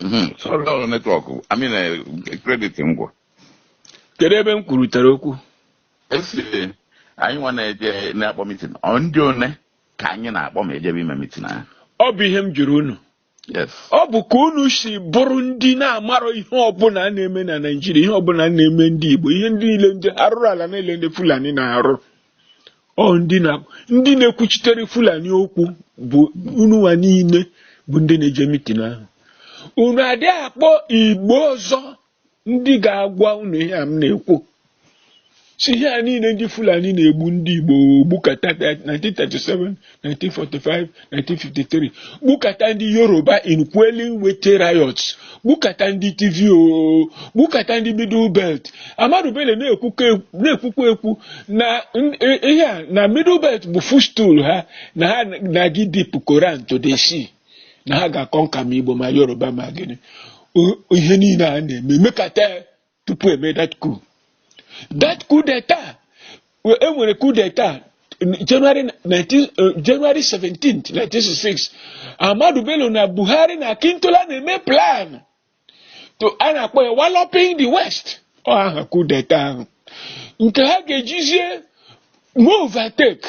Mhm. Sorry, ọ network I mean eh, credit m gwụ kedu ebe m kwurutere okwu esi anyị nwa na-eje na-akpọ meeting ọ ndị one ka anyị na-akpọ ma ejebe ime meeting ahụ ọ bụ ihe m jụrụ unu yes ọ bụ ka unu si bụrụ ndị na-amarọ ihe ọbụla na-eme na Naịjirịa ihe ọbụla na-eme ndị Igbo ihe ndị niile ndị arụrụ ala niile ndị Fulani na-arụ ọ ndị na ndị na-ekwuchitere fulani okwu bụ ununwa niile bụ ndị na-eje meeting ahụ unu adị akpọ igbo ọzọ ndị ga-agwa unu ihe a m na-ekwu si ihe a niile ndị fulani na-egbu ndị igbo gbukata 1937 1945 1953 gbukata ndị yoruba in quelling Wetie riots gbukata ndị Tiv o gbukata ndị middle belt Ahmadu Bello na-ekwukwa ekwu- na-ekwukwa ekwu na n- i- ihe a na middle belt bụ footstool ha na ha na-aga ịdip Koran to the sea na ha ga-aconquer ma igbo ma yoruba ma gịnị O- ihe niile a na-eme mekata ya tupu e mee that coup that coup d'etat e nwere coup d'etat January 19 eh, January 17 1966 Ahmadu Bello na Buhari na Akintola na-eme plan to a na-akpọ ya walloping the west ọ aha coup d'etat ahụ nke ha ga-ejizie overtake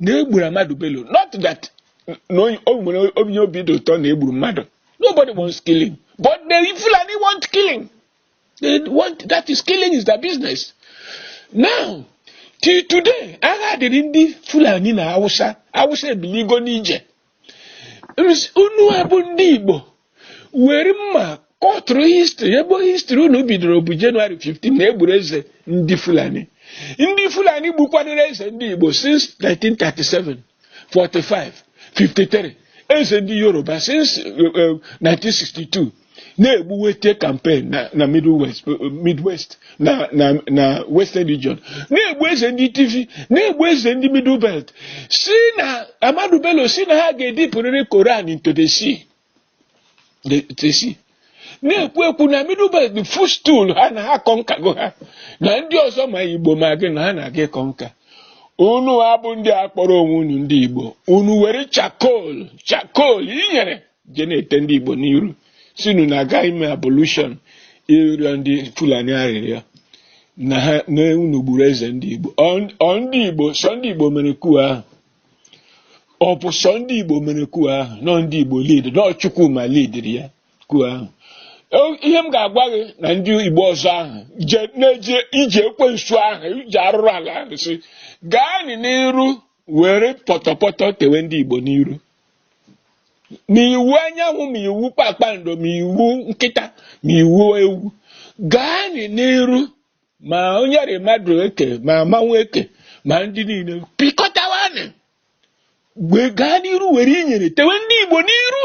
na e gburu Ahmadu Bello not that na onye- o nwere onye obi dị ụtọ na e gburu mmadụ nobody wants killing but the Fulani want killing they want that is killing is their business now till today agha dịrị ndị Fulani na Hausa Hausa ebiligo n'ije unu a bụ ndị Igbo were mma kọtụrụ history ebe history unu bidoro bụ January 15 na e gburu eze ndị Fulani ndị Fulani gbukwadoro eze ndị Igbo since 1937 45 53 eze ndị Yoruba since 1962 eh, eh, na-egbu Wetie campaign na na Middle West Midwest na na na Western Region na-egbu eze ndị Tiv na-egbu eze ndị Middle Belt si na Ahmadu Bello si na ha ga-edipụrịrị Koran into the sea the- the sea na-ekwu ekwu na Middle Belt bụ footstool ha na ha conquergo ha na ndị ọzọ ma Igbo ma gịnị ha na-aga ịconquer unu a bụ ndị a kpọrọ onwe unu ndị Igbo unu were charcoal charcoal inyere je na-ete ndị Igbo n'iru sị unu na-aga ime ablution ịrịọ ndị Fulani arịrịọ na ha na unu gburu eze ndị Igbo ọ ndị Igbo sọ ndị Igbo mere coup ahụ ọ bụ sọ ndị Igbo mere coup ahụ na ọ ndị Igbo lead na ọ Chukwuma leadiri ya coup ahụ ihe m ga-agwa gị na ndị Igbo ọzọ ahụ na-eje ije ekwensu ahụ ije arụrụ ala ahụ si gaa n'iru were pọtọpọtọ tewe ndị Igbo n'iru ma Iwuanyanwụ ma iwu kpakpando ma iwu nkịta ma iwu ewu gaa n'iru ma onye rị mmadụ eke ma mmanwụ eke ma ndị niile pịkọtawanị gaa n'iru were inyere tewe ndị Igbo n'iru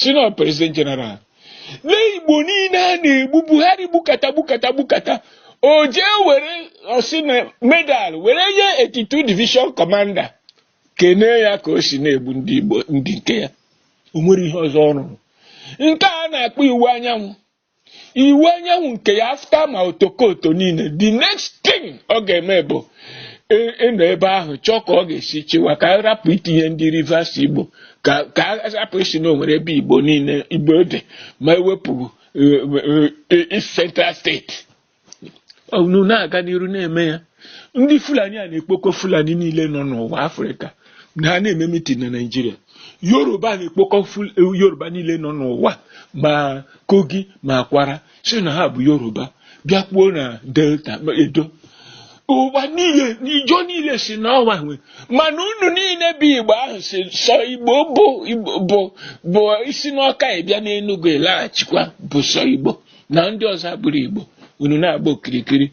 sị na president general lee igbo niile a na-egbu buhari gbukata gbukata gbukata o jee were ọ sị na medal were nye 82 division commander kenee ya ka o si na-egbu ndị igbo ndị nke ya o nwere ihe ọzọ ọ rụrụ nke a na-akpọ Iwuanyanwụ Iwuanyanwụ nke ya after ma otokoto niile the next thing ọ ga-eme bụ ị- ịnọ ebe ahụ chọọ ka ọ ga-esi chịwa ka a rapụ itinye ndị rivers igbo ka ka a rapụ ịsị na o nwere ebe igbo niile igbo dị ma e wepụ eh, eh, eh, East Central State unu na-aga n'iru na-eme ya ndị fulani a na-ekpokọ fulani niile nọ n'ụwa afrịka na ha na-eme mitin na naịjirịa yoruba na-ekpokọ yoruba niile nọ n'ụwa ma kogi ma kwara sị na ha bụ yoruba bịa kpuo na delta edo ụwa niile ịjọ niile sị n'ọ wa nwe mana unu niile bụ igbo ahụ sị sọ igbo bụ bụ i si n'ọka ị bịa n'enugwu ị laghachikwa bụ sọ igbo na ndị ọzọ abụrọ Igbo unu na-agba okirikiri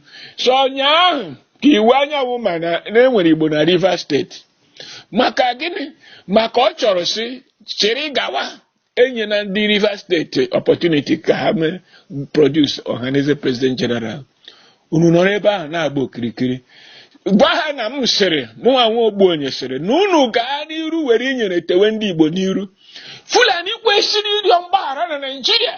sọ ụnyaahụ ka Iwuanyanwụ ma na e nwere Igbo na Rivers State maka gịnị maka ọ chọrọ sị chịrị gawa enyena ndị Rivers State opportunity ka ha mee produce Ohanaeze president general unu nọrọ ebe ahụ na-agba okirikiri gwa ha na m sịrị mụnwa nwa Ogbuonye sịrị na unu gaa n'iru were inyere tewe ndị Igbo n'iru Fulani kwesịrị ịrịọ mgbaghara na Naịjirịa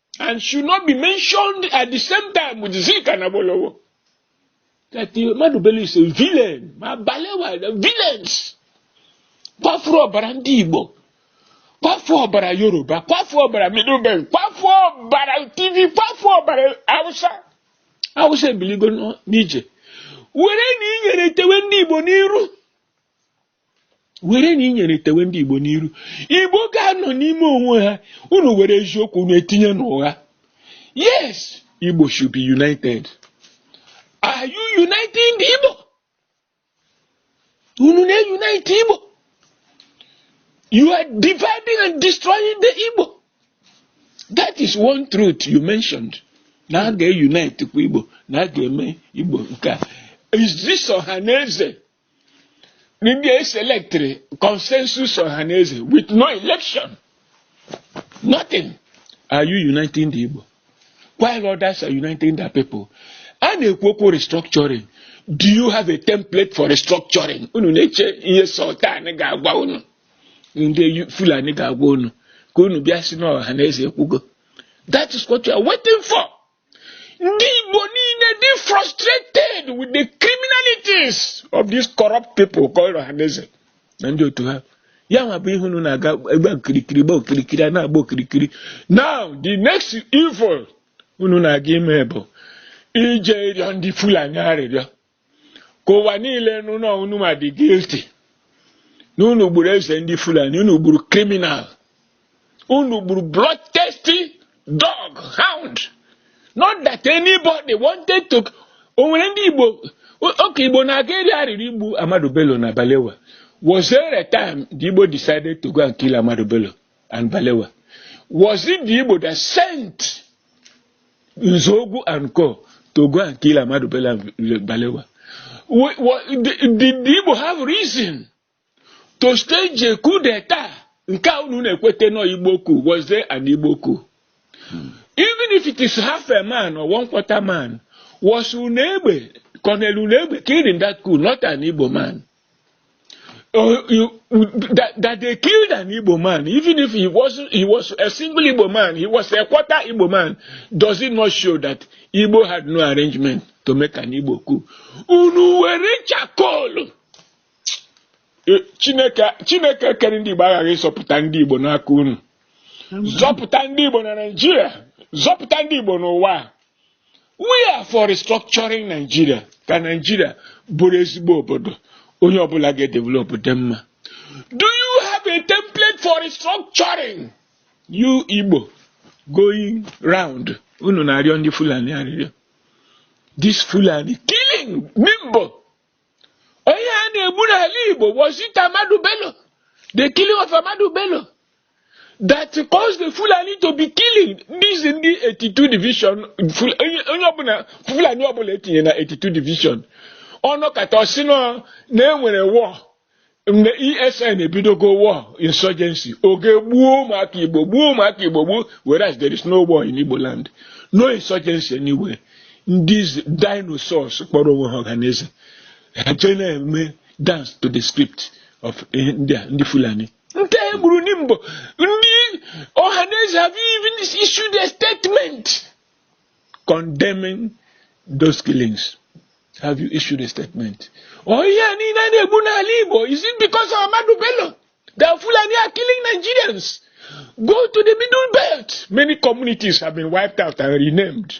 and should not be mentioned at the same time with Zik and Awolowo. That Ahmadu Bello is a villain. Ma Balewa, the villains. Kwafuru ọbara ndị Igbo. Kwafuru ọbara Yoruba. Kwafuru ọbara Middle Belt. Kwafuru ọbara Tiv. Kwafuru ọbara Hausa. Hausa ebiligo n'ije. Werenụ inyere tewe ndị Igbo n'iru. werenụ inyere tewe ndị Igbo n'iru Igbo ga-anọ n'ime onwe ha unu were eziokwu unu etinye n'ụgha yes Igbo should be united are you uniting the Igbo unu na-unite Igbo you are dividing and destroying the Igbo that is one truth you mentioned na a ga-unite kwa Igbo na a ga-eme Igbo nke a is this Ọhanaeze ndị eselectịrị consensus Ohaneze with no election nothing are you uniting the Igbo while others are uniting their people a na-ekwu okwu restructuring do you have a template for restructuring unu na-eche ihe sultan ga-agwa unu ndị Fulani ga-agwa unu ka unu bịa sị na Ohaneze ekwugo that is what you are waiting for ndị Igbo niile dị frustrated with the criminalities of these corrupt people called Ohaneze na ndị otu ha ya nwa bụ ihe unu na-aga agba okirikiri gba okirikiri a na-agba okirikiri now the next evil unu na-aga ime bụ ije ịrịọ ndị Fulani arịrịọ ka ụwa niile nụ na unu ma dị guilty na unu gburu eze ndị fulani unu gburu criminal unu gburu bloodthirsty dog hound not that anybody wanted to o nwere ndị igbo okay igbo na-aga eri arịrị igbu ahmadu bello na balewa was there a time the igbo decided to go and kill ahmadu bello and balewa was it the igbo that sent Nzogwu and Co. to go and kill Ahmadu Bello Balewa. What, what, did, did Igbo have reason to stage a coup d'etat? Nke a unu na-ekwete nọ Igbo coup was there an Igbo coup? Hmm. Even if it is half a man or one quarter man, was Unegbe, Colonel Unegbe killed in that coup, not an Igbo man? uh, you, that, that they killed an Igbo man, even if he was he was a single Igbo man, he was a quarter Igbo man, does it not show that Igbo had no arrangement to make an Igbo coup? Unu were charcoal. Eh, Chineke Chineke kere ndị Igbo aghaghị ịzọpụta ndị Igbo n'aka unu. Zọpụta ndị Igbo na Naịjirịa, zọpụta ndị Igbo n'ụwa. we are for restructuring Nigeria ka Nigeria bụrụ ezigbo obodo onye ọbụla ga-edevelop dị mma do you have a template for restructuring you Igbo going round unu na-arịọ ndị Fulani arịrịọ this Fulani killing Nimbo onye a na-egbu n'ala Igbo was it Ahmadu Bello the killing of Ahmadu Bello that caused the Fulani to be killing these in the 82 division onye ọbụla Fulani ọbụla e tinye na 82 division ọ nọkata ọ sị na e nwere war mgbe ESN ebidogo war insurgency o jee gbuo ụmụaka Igbo gbuo ụmụaka Igbo gbuo whereas there is no war in Igbo land no insurgency anywhere these dinosaurs kpọrọ onwe ha Ohaneze ha jee na-eme dance to the script of ndị Fulani nke e gburu na Nimbo ndị Ohaneze have even issued a statement condemning those killings have you issued a statement ọ oh, ihe a niile a na-egbu n'ala Igbo is it because of Ahmadu Bello that Fulani are killing Nigerians go to the middle belt many communities have been wiped out and renamed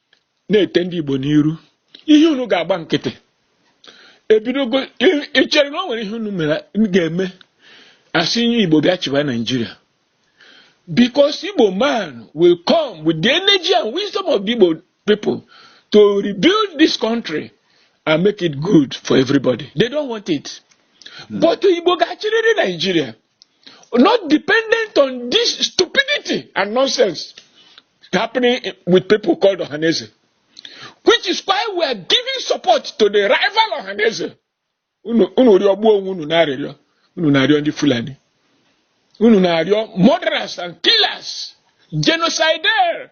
na-ete ndị Igbo n'iru ihe unu ga-agba nkịtị ebidogo i chere na o nwere ihe unu mere ga-eme a sị onye Igbo bịa chịba Naijiria because Igbo man will come with the energy and wisdom of the Igbo people to rebuild this country and make it good for everybody they don't want it hmm. but Igbo ga-achịrịrị Naijiria. not dependent on this stupidity and nonsense happening with people called Ohaneze, which is why we are giving support to the rival Ohaneze. Unu unu rịọgbuo onwe unu n'arịrịọ unu na-arịọ ndị Fulani unu na-arịọ murderers and killers genocidaire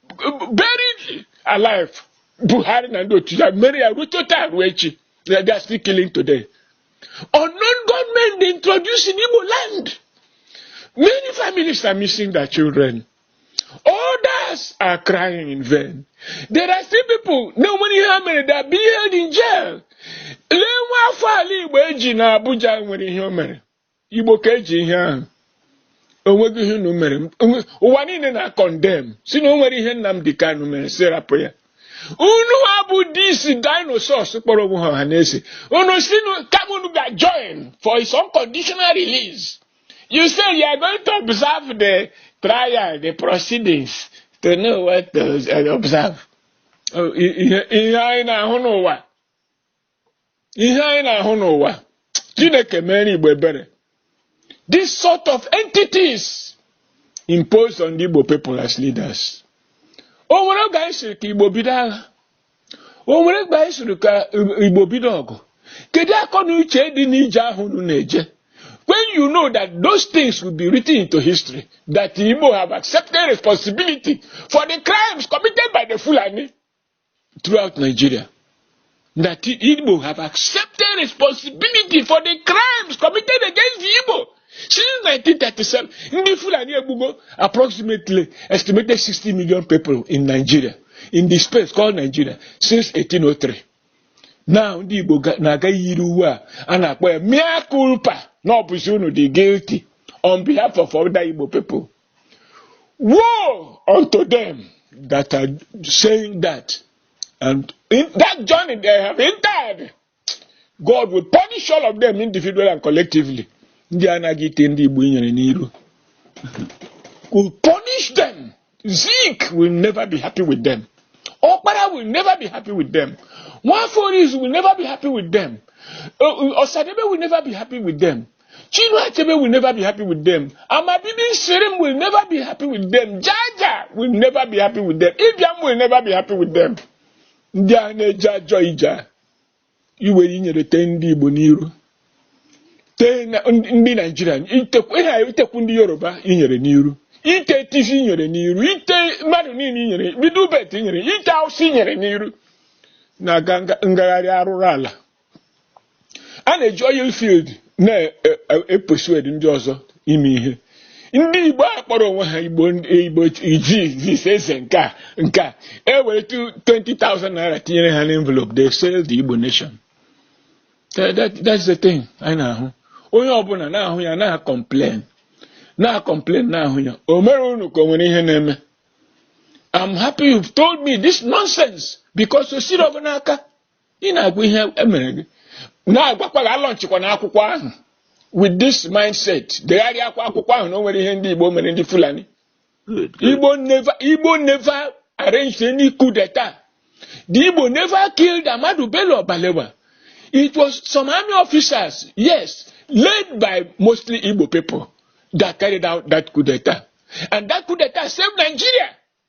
buried alive Buhari na ndị otu ya mere ya rute taa ruo echi na they are still killing today unknown gunmen they introduced in Igbo land many families are missing their children others are crying in vain there are still people na o nwere ihe ha mere they are being held in jail lee nwa afọ ala Igbo e ji na Abuja nwere ihe o mere igbo ka e ji ihe ahụ onweghị ihe unu mere ụwa niile na-condemn sị na o nwere ihe Nnamdi Kanu mere sị rapụ ya unu wa bụ these dinosaurs kpọrọ onwe ha Ohaneze unu sị kama unu ga join for his unconditional release you say you are going to observe the trial the proceedings to know what to observe oh, ihe anyị na-ahụ n'ụwa ihe anyị na-ahụ n'ụwa chineke mere igbo ebere this sort of entities imposed on the igbo people as leaders o nwere oge anyị sịrị ka igbo bido agha o nwere oge anyị sịrị ka igbo bido ọgụ kedu akọ na uche dị n'ije ahụ unu na-eje when you know that those things will be written into history that igbo have accepted responsibility for the crimes committed by the fulani throughout Nigeria that Igbo have accepted responsibility for the crimes committed against the Igbo since 1937. Ndị Fulani egbugo approximately estimated 60 million people in Nigeria in the space called Nigeria since 1803. Now ndị Igbo na-aga yiri uwe a a na-akpọ ya mea culpa na ọ bụzi unu dị guilty on behalf of other Igbo people. Woe unto them that are saying that. And in that journey they have entered, God will punish all of them individually and collectively. Ndị anaghị ite ndị Igbo nyere n'iru. Will punish them. Zeke will never be happy with them. Okpara will never be happy with them. Nwaforis will never be happy with them. Uh, uh, Osadebe will never be happy with them. Chinua Achebe will never be happy with them. Amabibi Shirim will never be happy with them. Jaja will never be happy with them. Ibiam will never be happy with them. Ndị a na-eje ajọ ije iwe inyere tee ndị Igbo n'iru tee ndị Naijiria itekwu ndị Yoruba inyere n'iru ite tisi inyere n'iru ite mmadụ niile inyere bido ubet inyere ite awụsa inyere n'iru na ngagharị arụrụala a na-eji oil field na-epersuade ndị ọzọ ime ihe ndị igbo a kpọrọ onwe ha igbo igbo iji eze nke a nke a e were 20,000 naira tinyere ha n'envelope they sell the igbo nation That- that- that's the thing anyị na-ahụ onye ọbụla na-ahụ ya na-acomplain na-acomplain na-ahụ ya o mere unu ka o nwere ihe na-eme I'm happy you've told me this nonsense because o siri ọ bụ n'aka ị na-agwa ihe emere gị na-agwakwa gị alaunchikwana akwụkwọ ahụ with this mindset degharịa akwa akwụkwọ ahụ na o nwere ihe ndị Igbo mere ndị Fulani Igbo never Igbo never arranged any coup d'etat the Igbo never killed Ahmadu Bello or Balewa it was some army officers yes led by mostly Igbo people that carried out that coup d'etat and that coup d'etat saved Nigeria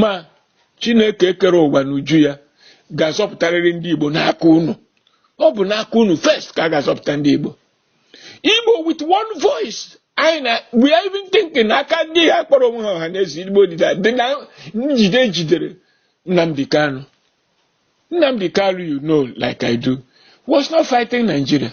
ma chineke kere ụwa n'uju ya ga-azọpụtarịrị ndị igbo n'aka unu ọ bụ n'aka unu first ka a ga-azọpụta ndị igbo igbo with one voice anyị na we are even thinking aka ndị a kpọrọ onwe ha ọhaneze igbo dịda dị na njide e jidere nnamdi kanu nnamdi kanu you know like i do was not fighting nigeria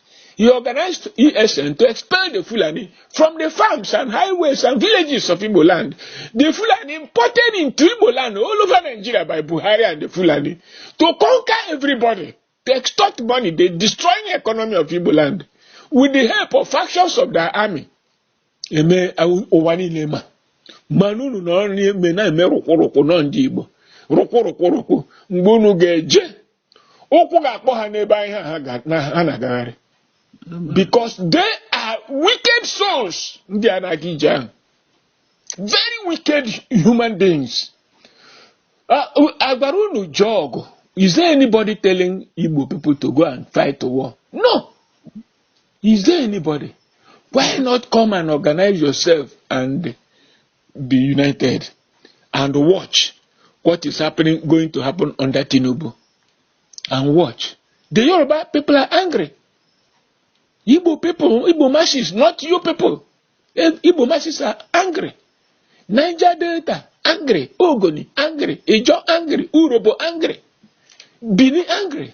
He organized ESN to expel the Fulani from the farms and highways and villages of Igbo land. The Fulani imported into Igbo land all over Nigeria by Buhari and the Fulani to conquer everybody, to extort money. They destroying the economy of Igbo land with the help of factions of their army. Eme ụwa niile ma mana unu nọrọ na-eme na-eme rụkwụrụkwụ nọ ndị Igbo rụkwụrụkwụrụkwụ mgbe unu ga-eje ụkwụ ga-akpọ ha n'ebe anyị ha ga- na- ha na-agagharị because they are wicked souls ndị a na-aga ije ahụ very wicked human beings Ah, u- a gwara unu jee ọgụ is there anybody telling igbo people to go and fight the war no is there anybody why not come and organize yourself and be united and watch what is happening going to happen under Tinubu and watch the Yoruba people are angry Igbo people Igbo masses not you people eh, Igbo masses are angry Niger Delta angry Ogoni angry Ijo angry Urobo angry Bini angry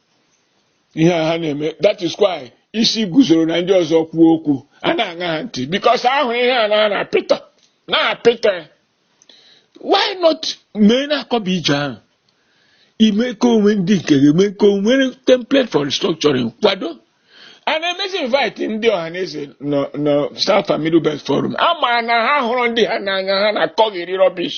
ihe a ha na-eme that is why Isiguzoro na ndị ọzọ kwuo okwu a na-aṅa ha ntị because a hụrụ ihe a na-apịta na-apịta why not mee na-akọba ije ahụ ime ka o nwee ndị nke ga-eme ka o nwee template for restructuring kwado and emezi invite ndị ọhaneze nọ South and Middle Belt Forum a ma na ha hụrụ ndị ha n'anya ha na-akọghịrị rubbish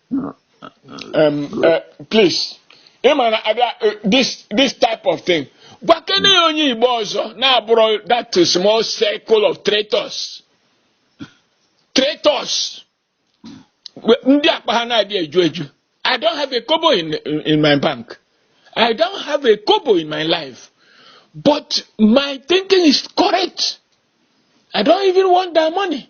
Um, uh, please ị ma na a bịa uh, this this type of thing gwakene ya onye igbo ọzọ na-abụrọ that small circle of traitors traitors We- ndị akpa ha na-adị eju eju i don't have a kobo in, in, in my bank i don't have a kobo in my life but my thinking is correct i don't even want that money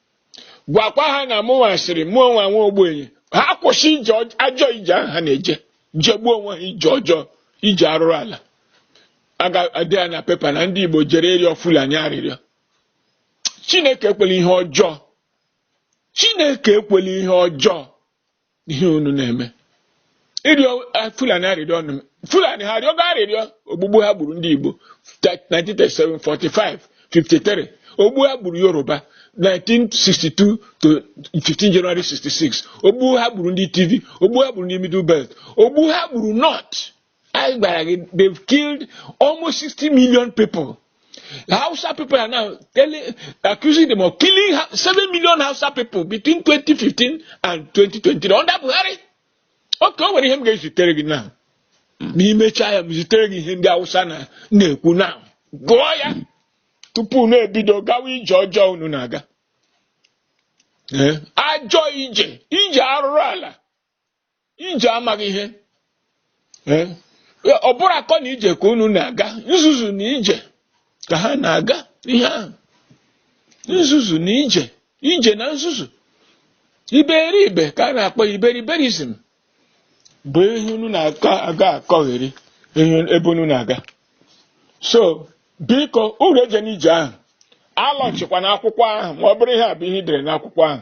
gwakwa ha na mụnwa sịrị mụ onwe nwa ogbenye ha kwụsị ije ajọ ije ahụ ha na-eje jegbuo onwe ha ije ọjọọ ije arụrụ ala a ga-ede ya na pepa na ndị Igbo jere ịrịọ Fulani arịrịọ Chineke ekwela ihe ọjọọ Chineke ekwela ihe ọjọọ ihe unu na-eme ịrịọ ah, fulani arịrịọ nụ fulani ha arịọgo arịrịọ ogbugbu ha gburu ndị igbo 1937 45 53 ogbu ha gburu yoruba 1962 to 15 January 66 ogbu ha gburu ndị Tiv ogbu ha gburu ndị Middle Belt ogbu ha gburu North anyị gwara gị they've killed almost 60 million people Hausa people are now telling, accusing them of killing 7 million Hausa people between 2015 and 2020 under Buhari okay o nwere ihe m ga-ezitere gị now ma i mechaa ya m zitere gị ihe ndị Hausa na-ekwu na gụọ ya tupu unu ebido gawa ije ọjọọ unu na-aga ajọ ije ije arụrụ ala ije amaghị ihe Eh, ọ bụrọ akọ na ije ka unu na-aga nzuzu na ije ka ha na-aga ihe ahụ nzuzu na ije ije na nzuzu iberibe ka a na-akpọ iberiberizm bụ ihe unu na-aga akọgheri ebe unu na-aga so biko unu ejena ije ahụ alaunchikwana akwụkwọ ahụ ma ọ bụrụ ihe a bụ ihe i dere n'akwụkwọ ahụ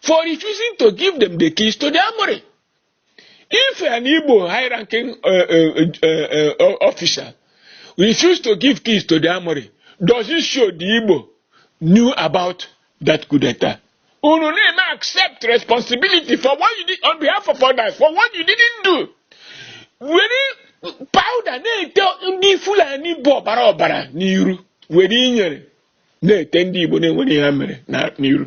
for refusing to give them the keys to the armory. If an Igbo high-ranking uh, uh, uh, uh officer refused to give keys to the armory, does it show the Igbo knew about that coup d'etat? Unu na-eme accept responsibility for what you did on behalf of others, for what you didn't do. Were powder na-ete ndị Fulani bụ ọbara ọbara n'iru were inyere na-ete ndị Igbo na-enwerọ ihe ha mere n'iru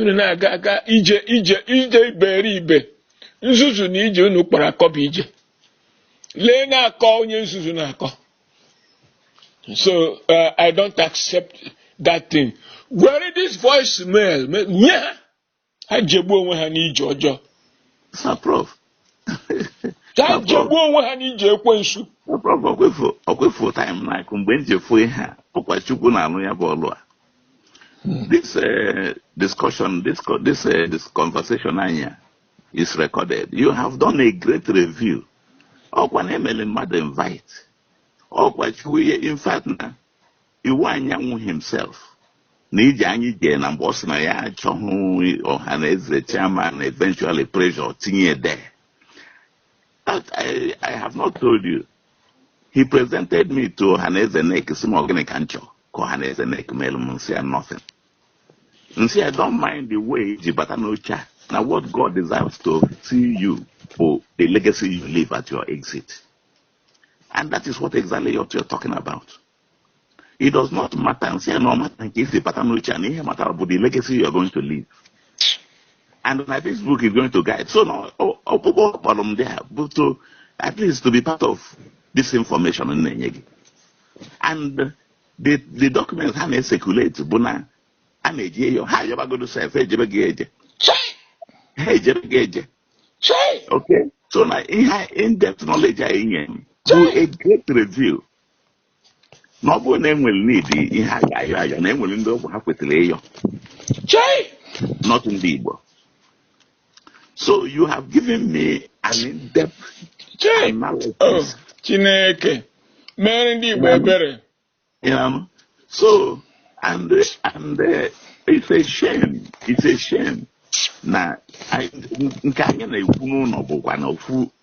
unu na-aga aga ije ije ije iberibe nzuzu na ije unu kpọrọ akọ bụ ije leenụ akọ onye nzuzu na-akọ so uh, i don't accept that thing were this voice mail nye ha ha jegbuo onwe ha n'ije ọjọọ ka ha jegbuo onwe ha n'ije ekwensu ọkwefu time like mgbe m ji efu ihe a ọkwa chukwu na-alụ ya bụ ọlụ a hmm. this eh, discussion this eh, this conversation anyị a is recorded you have done a great review ọkwa na emele mmadụ invite ọkwa chukwu in fact na Iwuanyanwụ himself na ije anyị jee na mgbe ọ sị na ya achọghị Ọhaneze chairman eventually pressure tinye there I, I have not told you he presented me to Ọhaneze NEC sị m ọ gịnị ka m chọọ ka Ọhaneze NEC meere m m sị ya nothing m sị ya I don't mind the way i ji bata n'oche a na what God desires to see you for the legacy you leave at your exit and that is what exactly you're talking about it does not matter m sị ya no matter nke i si bata n'oche a na ihe matara bụ the legacy you are going to leave and na this book is going to guide so na ọkpụkpọ kpọrọ m there bụ to at least to be part of this information m na-enye gị and the the documents ha na-ecirculate bụ na a na-eje ịyọ ha ayọbagodo sef ejebeghị eje ha ejebeghị eje okay so na ihe in-depth knowledge a ị nye m bụ a great review na ọ bụrụ na e nwere n'ụdị ihe a ga-ayọ ayọ na e nwere ndị ọ bụ ha kwesịrị ịyọ chai not ndị Igbo so you have given me an in-depth analysis oh, Chineke mere ndị Igbo ebere so and and uh, it's a shame it's a shame na nke anyị na-ekwu na ọ bụkwa na ofu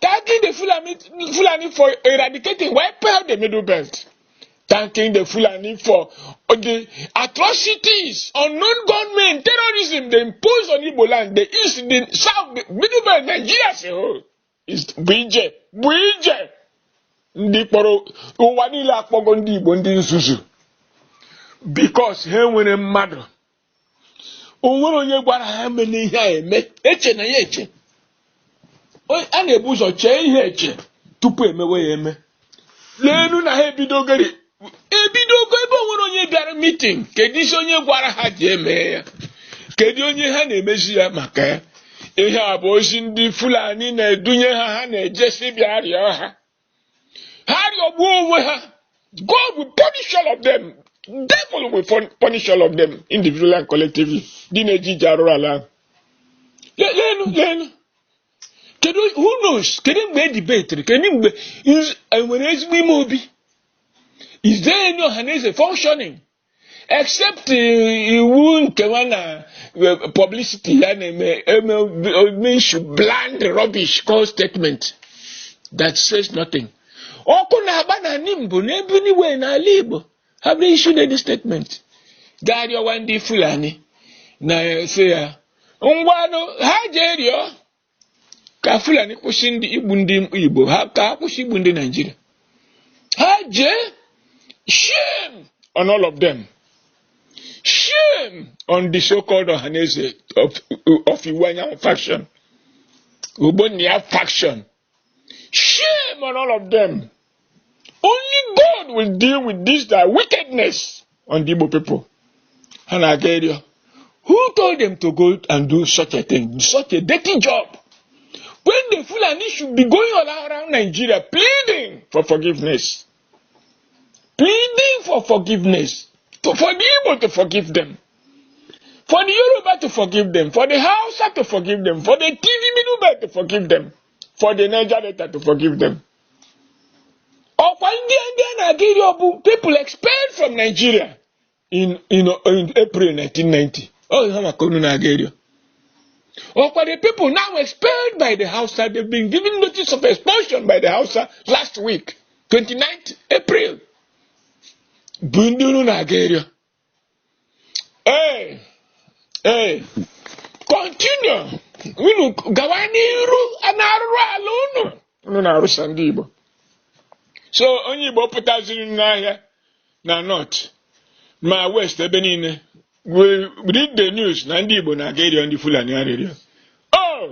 Thanking the Fulani, Fulani for eradicating, wiping out the Middle Belt. Thanking the Fulani for the atrocities, unknown gunmen, terrorism they impose on Igbo land, the east, the south, the Middle Belt, Nigeria as a whole. Is bụ ije, bụ ije. Ndị kpọrọ ụwa niile akpọgo ndị Igbo ndị nzuzu because ha nwere mmadụ o nwere onye gwara ha meenụ ihe a eme echena ya eche a na-ebu ụzọ chee ihe eche tupu e mewe ya eme leenu na ha ebidogori ebidogo ebe o nwere onye bịara meeting kedu isi onye gwara ha ji eme ya kedu onye ha na-emezi ya maka ya ihe a bụ ozi ndị Fulani na-edunye ha ha na-ejesi bịa rịọ ha ha rịọgbuo onwe ha God will punish all of them devil will punish all of them individually and collectively ndị na-eje ije arụrụala ahụ leenụ leenụ kedu who knows kedu mgbe e debatiri kedu mgbe e nwere ezigbo Imeobi is there any Ọhaneze functioning except iwu nkewa na eh, publicity ya na-eme eme eme issue bland rubbish called statement that says nothing ọkụ na-agba na Nimbo n'ebe niile n'ala Igbo have they issued any statement gaa rịọwa ndị Fulani na-asị ya ngwanụ ha jee rịọ ka fulani kwụsị ndị igbu ndị igbo ha ka ha kwụsị igbu ndị naijiria ha jee shame on all of them shame on the so-called ọhaneze of, of iwuanyanwụ faction ogbonnia faction shame on all of them only God will deal with this their wickedness on the Igbo people ha na-aga ịrịọ who told them to go and do such a thing such a dirty job when the Fulani should be going all around Nigeria pleading for forgiveness pleading for forgiveness to, for the Igbo to forgive them for the Yoruba to forgive them for the Hausa to forgive them for the TV middleman to forgive them for the Niger Delta to forgive them ọkwa ndị ndị a na-aga ịrịọ bụ people expelled from Nigeria in, in, in April 1990 ọ ha maka unu na-aga ịrịọ ọkwa the people now expelled by the Hausa they've been given notice of expulsion by the Hausa last week 29th April bụ ndị unu na-aga ịrịọ Ee, ee, continue unu gawa n'iru n'arụrụ ala unu unu na-arụsa ndị Igbo so onye Igbo pụtaziri n'ahịa na North ma west ebe niile we read the news na ndị Igbo na-aga ịrịọ ndị Fulani arịrịọ oh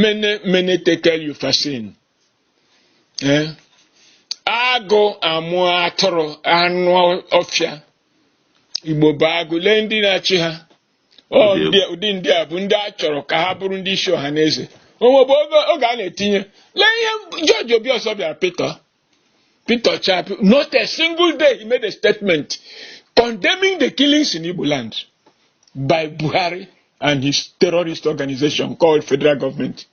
mene mene tekel upharsin ee agụ amụ atụrụ anụ ọfịa igbo bụ agụ lee ndị na-achị ha Ọ Ndị ndị- ụdị ndị a bụ ndị a chọrọ ka ha bụrụ ndị isi ọhaneze o nwebụ oge oge a na-etinye lee ihe george obiọzọ bịara pete pete chapi not a single day he made a statement condemning the killings in igbo land by buhari and his terrorist organization called federal government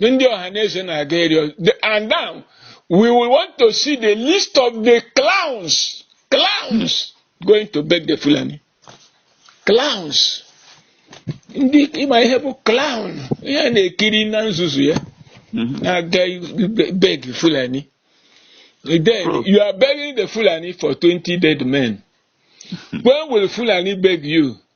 ndị ọhaneze na-aga ịrịọ and now we will want to see the list of the clowns clowns going to beg the Fulani clowns ndị ị ma ihe bụ clown ihe a na-ekiri na nzuzu ya mhm. na-aga beg Fulani then hmm. you are begging the Fulani for 20 dead men when will Fulani beg you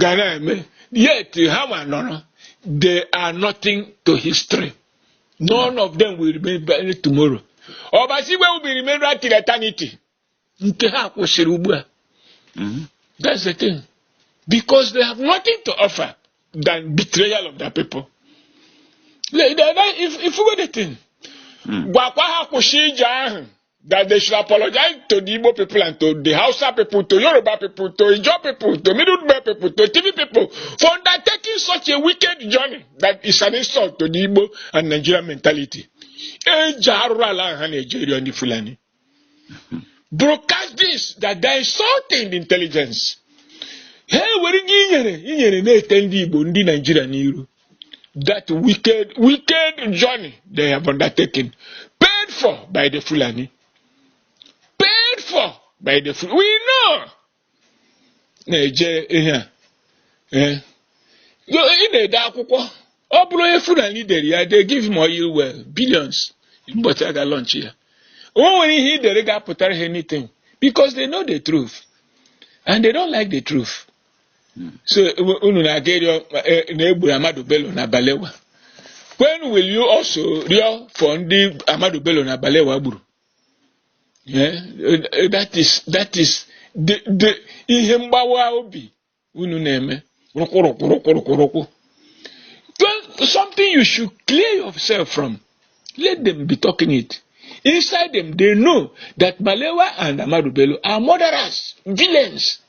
ga na-eme yet ha ma nọrọ they are nothing to history none of them will remain tomorrow ọbasi igwe will remain right till eternity nke ha kwụsịrị ugbu a mm-hmm. that's the thing because they have nothing to offer than betrayal of their people if, if you go the thing hmm. gwakwa ha kwụsị ije ahụ that they should apologize to the Igbo people and to the Hausa people, to Yoruba people, to Ijo people, to Middle Belt people, to TV people for undertaking such a wicked journey that is an insult to the Igbo and Nigerian mentality. Broadcast this that they insulting the intelligence. Hey, were gị inyere inyere na-ete ndị Igbo ndị Naijiria n'iru that wicked, wicked journey they have undertaken, paid for by the Fulani. Paid for by the Fulani. We know. Na-eje ihe a. Eh. Yo- Ị na-ede akwụkwọ. Ọ bụrụ onye Fulani dere ya, they give him oil well, billions. Ụbọchị a ga-launch ya. O nwere ihe ị dere ga-apụtara ha anything because they know the truth and they don't like the truth. so unu na-aga ịrịọ e, na e gburu Ahmadu Bello na Balewa when will you also rịọ for ndị Ahmadu Bello na Balewa gburu eh, eh, that is that is the ihe mgbawa obi unu na-eme rụkwụrụkwụrụkwụrụkwụ something you should clear yourself from let them be talking it inside them they know that Balewa and Ahmadu Bello are murderers villains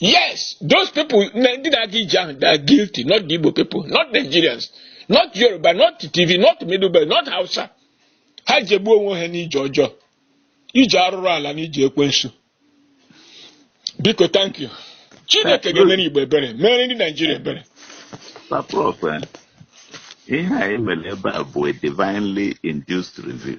Yes, those people, ndị na-aga ije ahụ, they are guilty, not the Igbo people, not Nigerians, not Yoruba, not Tiv, not Middle Belt, not Hausa. Ha jegbuo onwe ha n'ije ọjọọ, ije arụrụ ala na ije ekwensu. Biko, thank you. Chineke ga-emere Igbo ebere, mere ndị Nigeria ebere. Eh, ihe anyị mere ebe a bụ a divinely induced review.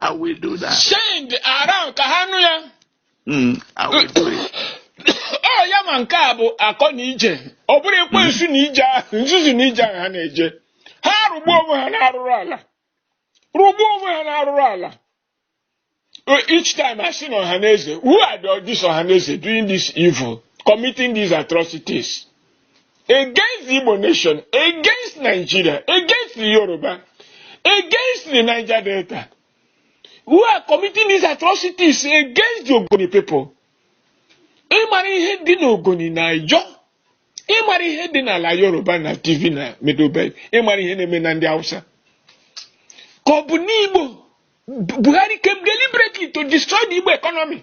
I will do that. Send around ka ha nụ ya. Mm, I will do it. Ọ ya ma nke a bụ akọ na ije. Ọ bụrụ ekwensu na ije ahụ, nzuzu na ije ahụ ha na-eje. Ha rụgbuo onwe ha n'arụrụ ala. Rụgbuo onwe ha n'arụrụ ala. Uh, each time I see Ohaneze, who are the, this Ohaneze doing this evil, committing these atrocities? against the Igbo nation, against Nigeria, against the Yoruba, against the Niger Delta, who are committing these atrocities against the Ogoni people. ị mara ihe dị n'ogoni na Ijaw ị mara ihe dị n'ala yoruba na Tiv na Middle Belt ị mara ihe na-eme na ndị hausa ka ọ bụ n'igbo buhari came deliberately to destroy the igbo economy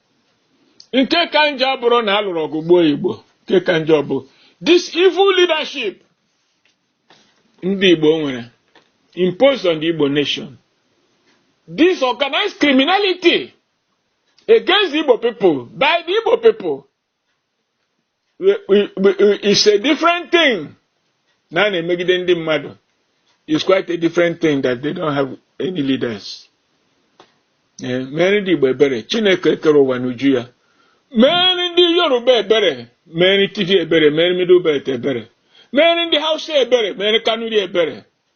nke ka njọ abụrụ na a lụrụ ọgụ gbuo igbo nke ka njọ bụ this evil leadership ndị igbo nwere imposed on the igbo nation this organized criminality against the igbo people by the igbo people it's a different thing na a na-emegide ndị mmadụ it's quite a different thing that they don't have any leaders eh, mere ndị Igbo ebere Chineke kere ụwa n'uju ya mere ndị Yoruba ebere mere Tiv ebere mere Middle Belt ebere mere ndị Hausa ebere mere Kanuri ebere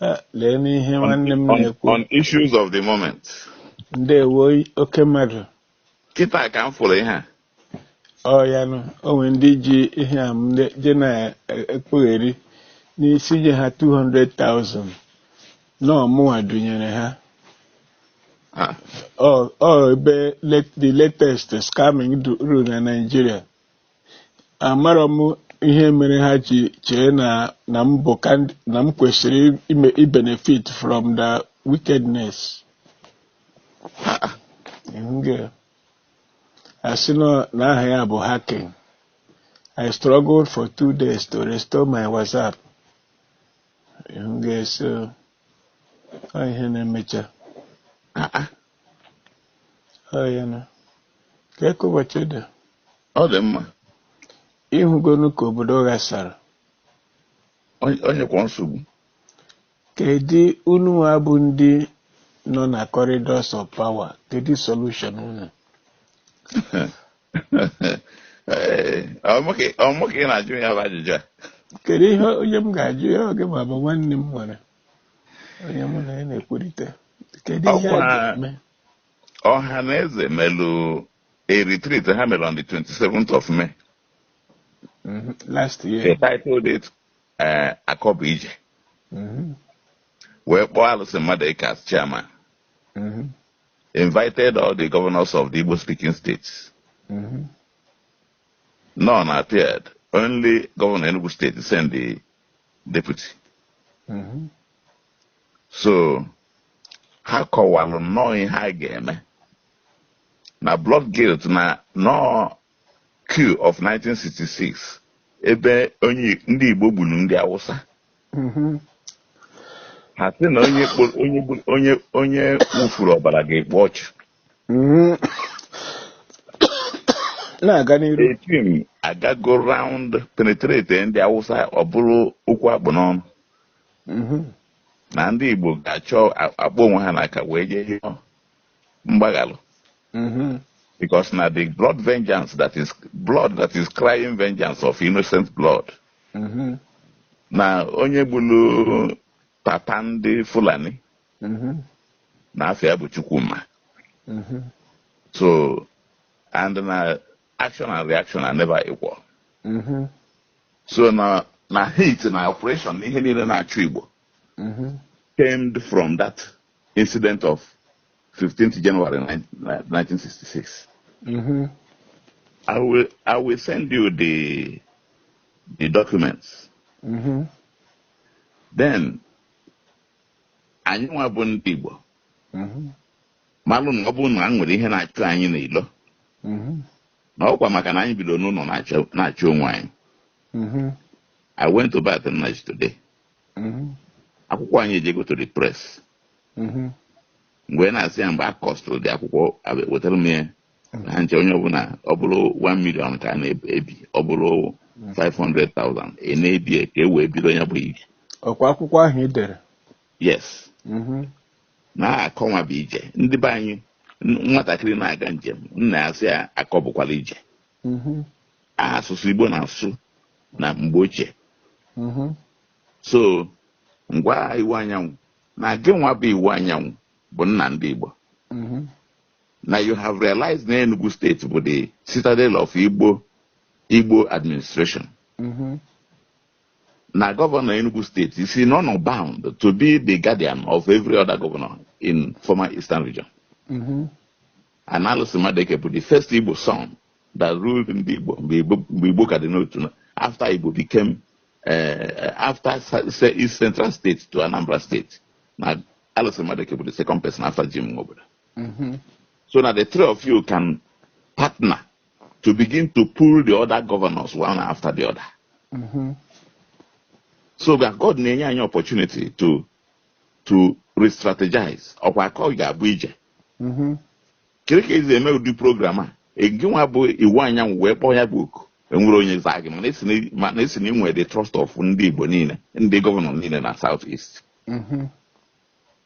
Eh, leenụ ihe nwanne m na-ekwu on issues of the moment ndewo oke mmadụ kịta ka m fụrụ ihe a ọ ya nụ o nwere ndị ji ihe a m ne- je na-ekpugheri na-asị nye ha 200,000 na ọ mụwa dunyere ha Ah, ọ ọ ebe let- the latest scamming du- rule na Nigeria amarọ m ihe mere ha ji chee na na m bụ na m kwesịrị ịbenefit from the wickedness a sị na aha ya bụ hacking I struggled for two days to restore my WhatsApp ị hụgo so ihe na-emecha ọ dị mma ịhụgonu ka obodo ghasara onyekwa nsogbu kedu unu nwa bụ ndị nọ na corridors of power kedu solution unu ọ maka ị na-ajụ ya bụ ajụjụ a kedu ihe onye m ga-ajụ ya oge ma bụ nwanne m nwere onye mụ na ya na-ekwurịta kedu ihe a Ọkwa- ga-eme Ọhaneze melụ a retreat ha mere on the 27th of May Mhm. last year they titled it eh, akọ bụ ije Mhm. wee kpọọ Alison Madueke as chairman Mhm. invited all the governors of the Igbo speaking states Mhm. none appeared only governor Enugu state sent the deputy mm-hmm. so ha kọwalụ nnọọ ihe ha ga-eme na blood guilt na nọọ coup of 1966 ebe ndị Igbo gburu ndị Awụsa mm-hmm. ha sị na onye wụfuru ọbara ga-ekpu ọchụ Mm. na-aga n'iru the thing agago round penetrate ndị awụsa ọ bụrụ okwu a kpụ n'ọnụ Mhm. na ndị igbo ga-achọ a- akpọ onwe ha n'aka wee jee yọọ mgbaghalụ Mhm. because na the blood vengeance that is blood that is crying vengeance of innocent blood Mhm. na onye gburu papa ndị Fulani mhm. na afa ya bụ Chukwuma mhm. so and na action and reaction are never equal mhm. so na na hate na oppression na ihe niile na-achụ Igbo came from that incident of 15th January 1966. Mm-hmm. I will I will send you the the documents. Mm-hmm. then anyị nwa bụ ndị Igbo mm-hmm. malụ na ọ bụrụ na e nwere ihe na-achụ anyị n'ilo mm-hmm. na ọkwa maka na anyị bido n'ụnọ na-achụ onwe anyị mm-hmm. I went to Barth Nnaji today akwụkwọ anyị ejego to the press mgbe na-asị ya mgbe a costụrụ the akwụkwọ wetara m ya ha ncha onye ọbụla ọ bụrụ 1 million ka a na-ebi ọ bụrụ 500,000 ị na-ebi ya ka e wee bido ya bụ ije ọkwa akwụkwọ ahụ ị dere yes Mhm. na akọ nwa bụ ije ndị be anyị n- nwatakịrị na-aga njem nna ya sị ya akọ bụkwara ije Mhm. asụsụ Igbo na-asụ na mgbe ochie Mhm. so ngwa Iwuanyanwụ na gị nwa bụ Iwuanyanwụ bụ nna ndị Igbo Mhm. na you have realized na Enugu steeti bụ the citadel of Igbo administration mm-hmm. na gọvanọ Enugu steeti is in honor bound to be the guardian of every other governor in former eastern region mm-hmm. and Alison Madueke bụ the first Igbo son that ruled ndị Igbo mgbe Igbo ka dị n'otu after Igbo became uh, after East Central State to Anambra State na Alison Madueke bụ the second person after Jim Nwobodo Mm-hmm. So na the three of you can partner to begin to pull the other governors one after the other. Mm-hmm. So that God na-enye anyị opportunity to to re-strategize ọkwa akọ ga-abụ ije. Mm-hmm. Kiri ka ezi eme ụdị program a gị nwa bụ Iwuanyanwụ wee kpọọ ya bụ oku e nwere onye zaa gị mana esi na ị nwere the trust of ndị Igbo niile ndị gọvanọ niile na South East. Mm-hmm.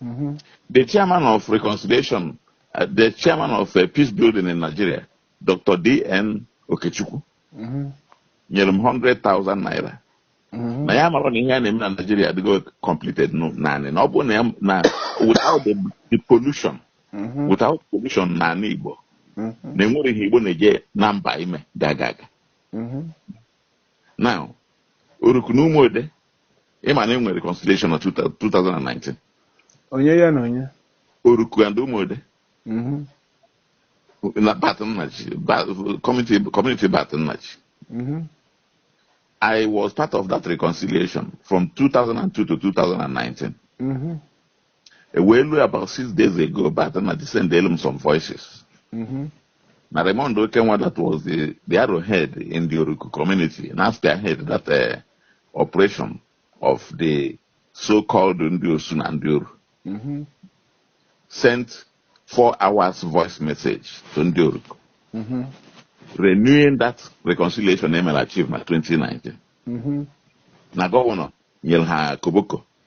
Mm -hmm. The chairman of reconciliation, uh, the chairman of uh, peace building in Nigeria, Dr. D.N. Okechukwu, mm -hmm. nyere m 100,000 naira. Mm -hmm. na ya mara na ihe a na-eme na Nigeria adịgo completed naanị na ọ bụ na na without the, the pollution mm -hmm. without pollution na ala Igbo mm -hmm. na e nwere ihe Igbo na-eje na mba ime ga-aga aga mm -hmm. now Oruku na Ụmụode ị ma na e nwere reconciliation na 2019 onye ya na onye Oruku and Ụmụode mhm. na Barth Nnaji community Barth Nnaji mhm. I was part of that reconciliation from 2002 to 2019. Mm -hmm. E wee lue about six days ago Barth Nnaji sendelu m some voices. Mhm. na Raymond Okenwa that was the, the arrowhead in the Oruku community na-spearhead that uh, operation of the so-called ndị Osu na ndị Oru Mhm. sent four hours voice message to ndị Oruku Mhm. renewing that reconciliation e melu achieved na 2019. Mhm. Na gọvanọ nyere ha koboko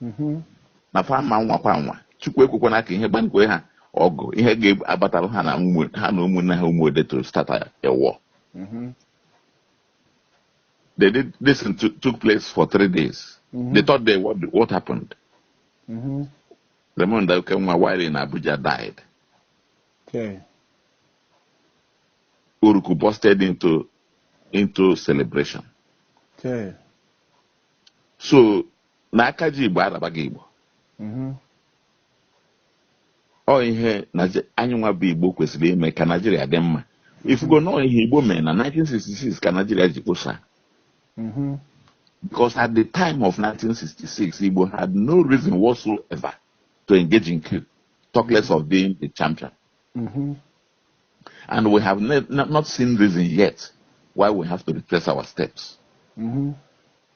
mhm. na fa ma nwakwa nwa chukwu ekwekwana ka ihe gbankwe ha ọgụ ihe ga-abatara ha na ụmụnne ha Ụmụode to start a war mhm. they did this took place for three days mhm. the third day what, what happened Raymond Okenwa while in Abuja died okay. Oruku busted into into celebration okay. so na aka ji igbo ala bụ aka igbo mhm. ọ ihe anyị nwa bụ igbo kwesịrị ime ka naijiria dị mma ị fụgo na ọ ihe igbo mere na 1966 ka naijiria ji kposa mhm. because at the time of 1966 igbo had no reason whatsoever to engage in coup talk less of being the champion mhm. and we have not seen reason yet why we have to retrace our steps. Mm-hmm.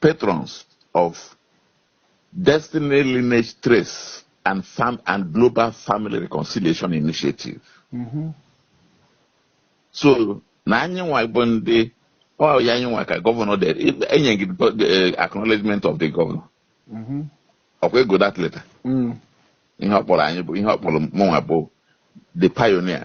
patrons of Destiny Lineage Trace and, Fam and Global Family Reconciliation Initiative. Mm -hmm. So, na anyị nwa bụ ndị ọ ya anyị nwa ka governor dere enye gị eh, acknowledgement of the governor. Mm-hmm. ọkwa ị gụọ that letter mm. ihe ọ kpọrọ anyị bụ ihe ọ kpọrọ mụnwa bụ the pioneer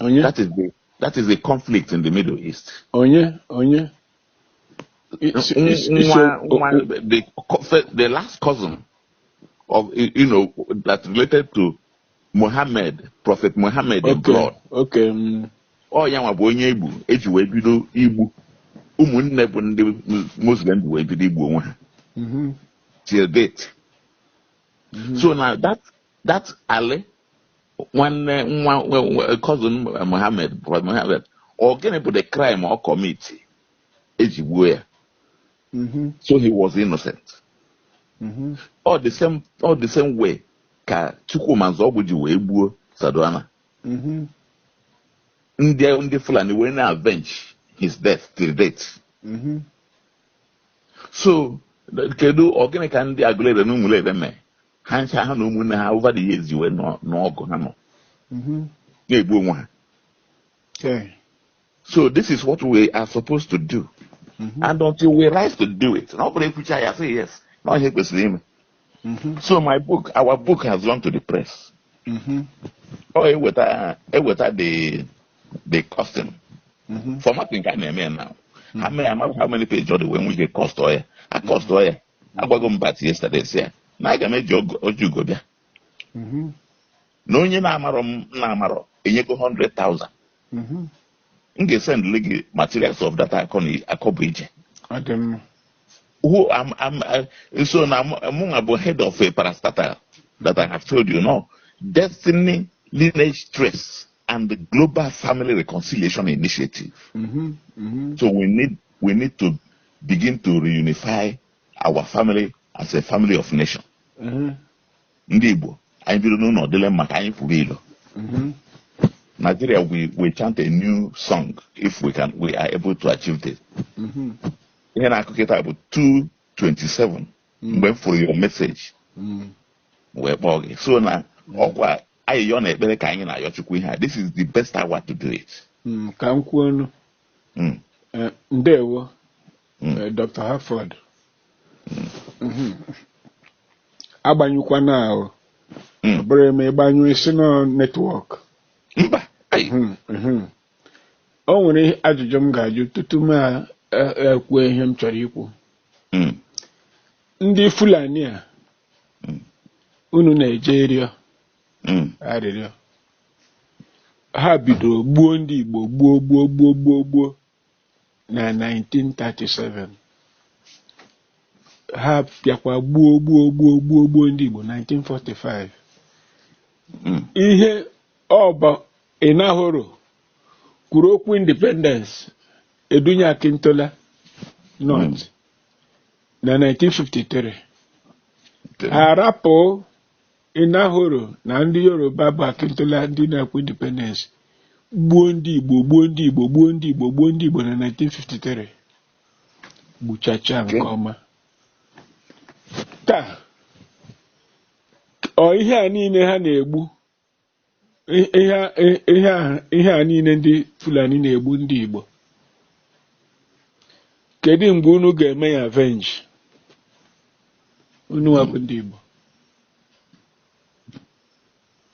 onye that is the that is the conflict in the middle east onye onye Isi- N- isi- isi- nwa- o- nwa- o- the co- fe- the last cousin of you you know that related to Muhammad prophet Muhammad in okay blood okay mm, ọ ya nwa bụ onye egbu eji wee bido igbu ụmụnne bụ ndị Mus- muslim ji wee bido igbu onwe ha mhm, till date mhm, so na that that Ali nwanne nwa cousin Mohammed Mohammed ọ gịnị bụ the crime ọ commit eji gbuo ya mm-hmm. so he was innocent ọ mm-hmm. the same ọ the same way ka Chukwuma Nzeogwu ji wee gbuo Sardauna mm-hmm. ndị ndị Fulani wee na-avenge his death till date so kedu ọ gịnị ka ndị Agụleri na Ụmụleri mee ha ncha ha na ụmụnne ha over the years wee nọ- n'ọgụ ha nọ Mhm. na-egbu onwe ha Okay. so this is what we are supposed to do Mhm. and until we rise to do it na ọ bụrọ ekwucha ya say yes na ọ ihe a kwesịrị ime Mhm. so my book our book has gone to the press Mhm. ọ eweta eweta the the costing Mhm. formatting ka a na-eme ya now ha mee ya mara how many page ọ dị wee nwee ike cost ọ ya a cost ọ ya agwago m bat yesterday sị ya na aga m eji ogo- ọjị ugo bịa Mhm. na onye na-amarọ m na-amarọ enyego 100,000 Mhm. m ga-esendịrị gị materials of that akọ na akọ bụ ije Ọ dị mma. who am am uh, so na mụnwa bụ head of a parastatal that I have told you now destiny lineage trace and the global family reconciliation initiative Mhm. Mhm. so we need we need to begin to reunify our family as a family of nation mhm, ndị Igbo anyị biri n'ụlọ dịlị mma ka anyị pụrụ ilo mhm. Nigeria we will chant a new song if we can we are able to achieve this Mhm, ihe na-akụ kịta bụ 2:27 mgbe m fụrụ your message mhm. wee kpọọ gị so na ọkwa ayịyọ na ekpere ka anyị na-ayọ Chukwu ihe a this is the best hour to do it Mm, ka m kwuo ọnụ mm. eh, ndewo mm. eh, Dr. Harford mm. mhm. agbanyụkwana ahụ ọ bụrụ e mee ị gbanyụọ ị sị na ọ netwọk mba mhm, mhm. o nwere ajụjụ m ga-ajụ tutu m ekwuo e, e ihe m chọrọ ikwu hmm. ndị Fulani a hmm. unu na-eje ịrịọ Mm. arịrịọ ha bidoro gbuo ndị Igbo gbuo gbuo gbuo gbuo gbuo na 1937 ha bịakwa gbuo gbuo gbuo gbuo gbuo ndị Igbo 1945 Mm. ihe ọ bụ Enahoro kwuru okwu independence e dunye Akintola North na 1953 ha rapụ Enahoro na ndị Yoruba bụ Akintola ndị na-ekwu independence gbuo ndị Igbo gbuo ndị Igbo gbuo ndị Igbo gbuo ndị Igbo na 1953 gbuchacha nke ọma taa ọ ihe a niile ha na-egbu I- ihe a- i- ihe a- ihe a niile ndị Fulani na-egbu ndị Igbo kedu mgbe unu ga-eme ya avenge unu nwa bụ ndị Igbo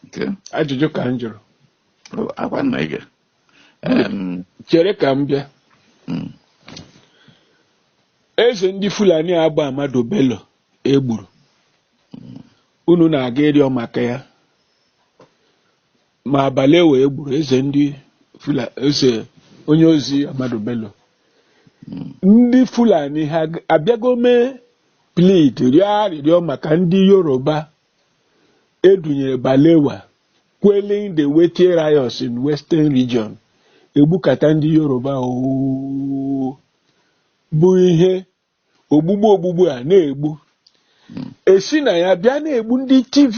Okay. ajụjụ ka m jụrụ Oh, akwa nna ige. Um, chere ka m bịa mm, eze ndị Fulani a bụ Ahmadu Bello e gburu unu na-aga ịrịọ maka ya ma Balewa e gburu eze ndị Fula- eze onye ozi Ahmadu Bello ndị Fulani ha abịago mee plead rịọ arịrịọ maka ndị Yoruba e dunyere Balewa quelling the Wetie riots in Western Region e gbukata ndị Yoruba ọ bụ ihe ogbugbu ogbugbu a na-egbu e si na ya bịa na-egbu ndị Tiv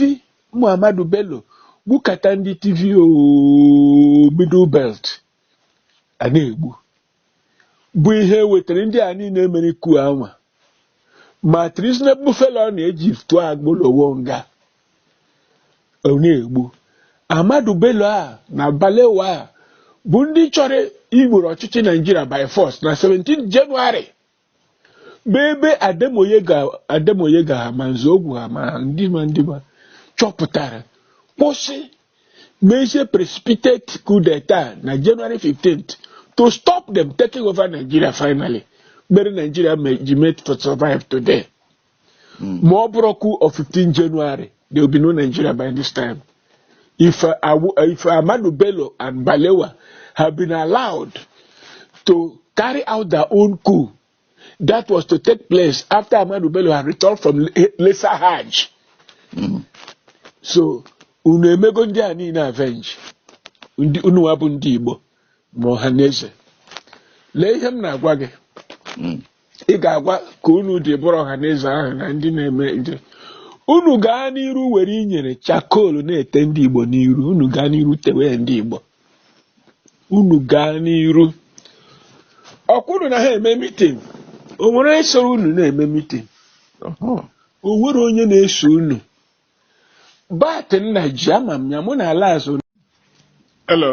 ma Ahmadu Bello gbukata ndị Tiv ooo middle belt a na-egbu bụ ihe wetara ndị a niile mere coup a nwa ma treasonable felony e ji tụọ Awolowo nga ọ na-egbu Ahmadu Bello a na Balewa a bụ ndị chọrọ iwere ọchịchị Naijiria by force na 17 Jenụwarị bụ ebe Ademoyega ha ma Nzeogwu ha ma ndị ma ndị ma chọpụtara kwụsị mezie precipitate coup d'etat na January 15th to stop them taking over Nigeria finally mere Nigeria ji made to survive today hmm. ma ọ bụrọ coup of 15 January there will be no Nigeria by this time if uh, if Amadu Bello and Balewa have been allowed to carry out their own coup that was to take place after Amadu Bello had returned from Lesser Hajj. Hmm. so unu emego ndị a niile avenge unu wa bụ ndị Igbo ma Ohanaeze lee ihe m na-agwa gị hmm. ị ga-agwa ka unu dị bụrụ Ohanaeze ahụ na ndị na-eme nje unu gaa n'iru were inyere charcoal na-ete ndị igbo n'iru unu gaa n'iru tewe ndị igbo unu gaa n'iru ọkwụrụ na ha eme meeting o nwere onye soro unu na-eme meeting o nwere onye na-eso unu but nna ji ama m ya mụ na-ala azụ Hello.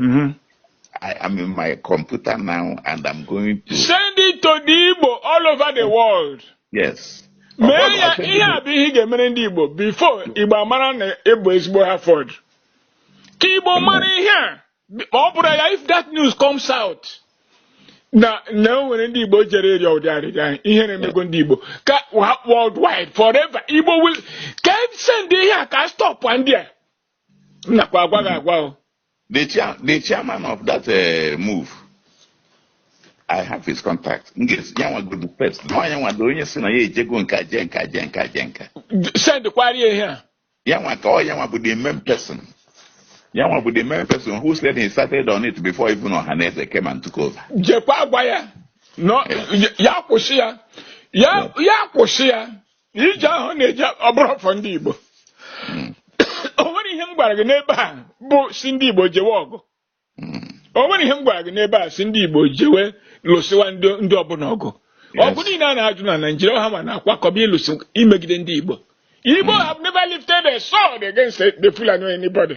Mm-hmm. I am in my computer now and I'm going to send it to the Igbo all over the world. Yes. mee ya ihe a bụ ihe ị ga-emere ndị Igbo before Igbo amara na ị bụ ezigbo Harford ka Igbo mara ihe a ma ọ bụrụ ya if that news comes out na na o nwere ndị Igbo jere ịrịọ ụdị arịrịọ ahụ ihe na-emego ndị Igbo ka worldwide forever Igbo will ka send ihe a ka stop ndị a m nakwa agwa gị agwa o the chair the chairman of that uh, move i have his contact m ga-ezi ya nwa godu first na onye nwa dị onye si na ya ejego nka jee nka jee nka jee nka sendkwara ihe a ya nwa ka ọ ya nwa bụ the main person ya nwa bụ the main person who said he started on it before even Ohaneze came and took over jekwa agwa ya no ya kwụsị ya ya ya kwụsị ya ije ahụ ọ na-eje ọ bụrọ for ndị Igbo Mm. o nwere ihe m gwara gị n'ebe a bụ sị ndị Igbo jewe ọgụ Mm. o nwere ihe m gwara gị n'ebe a sị ndị Igbo jewe lụsịwa ndị ndị ọbụla ọgụ Yes. ọgụ niile a na-ajụ na Naịjirịa ha ma na-akwakọba ịlụsị imegide ndị Igbo Igbo have never lifted a sword against the Fulani or anybody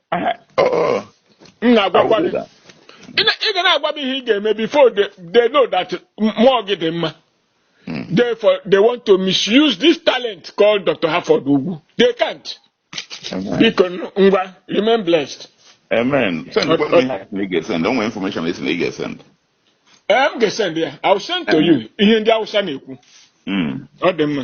Aha, oh, oh, m na-agwakwa gị awụdịda. ị na- ị ga na-agwa m ihe ị ga-eme before they, they know that mmụọ gị dị mma Mm. therefore they want to misuse this talent called Dr. Harford Ugwu they can't Amen. biko n- ngwa remain blessed Amen. Send Ọ- kwa ọ- ihe anyị ga-esend. O nwere information ị sị na ị ga-esend. ee m ga-esend ya I will send to you ihe ndị Hausa na-ekwu Mm. ọ dị mma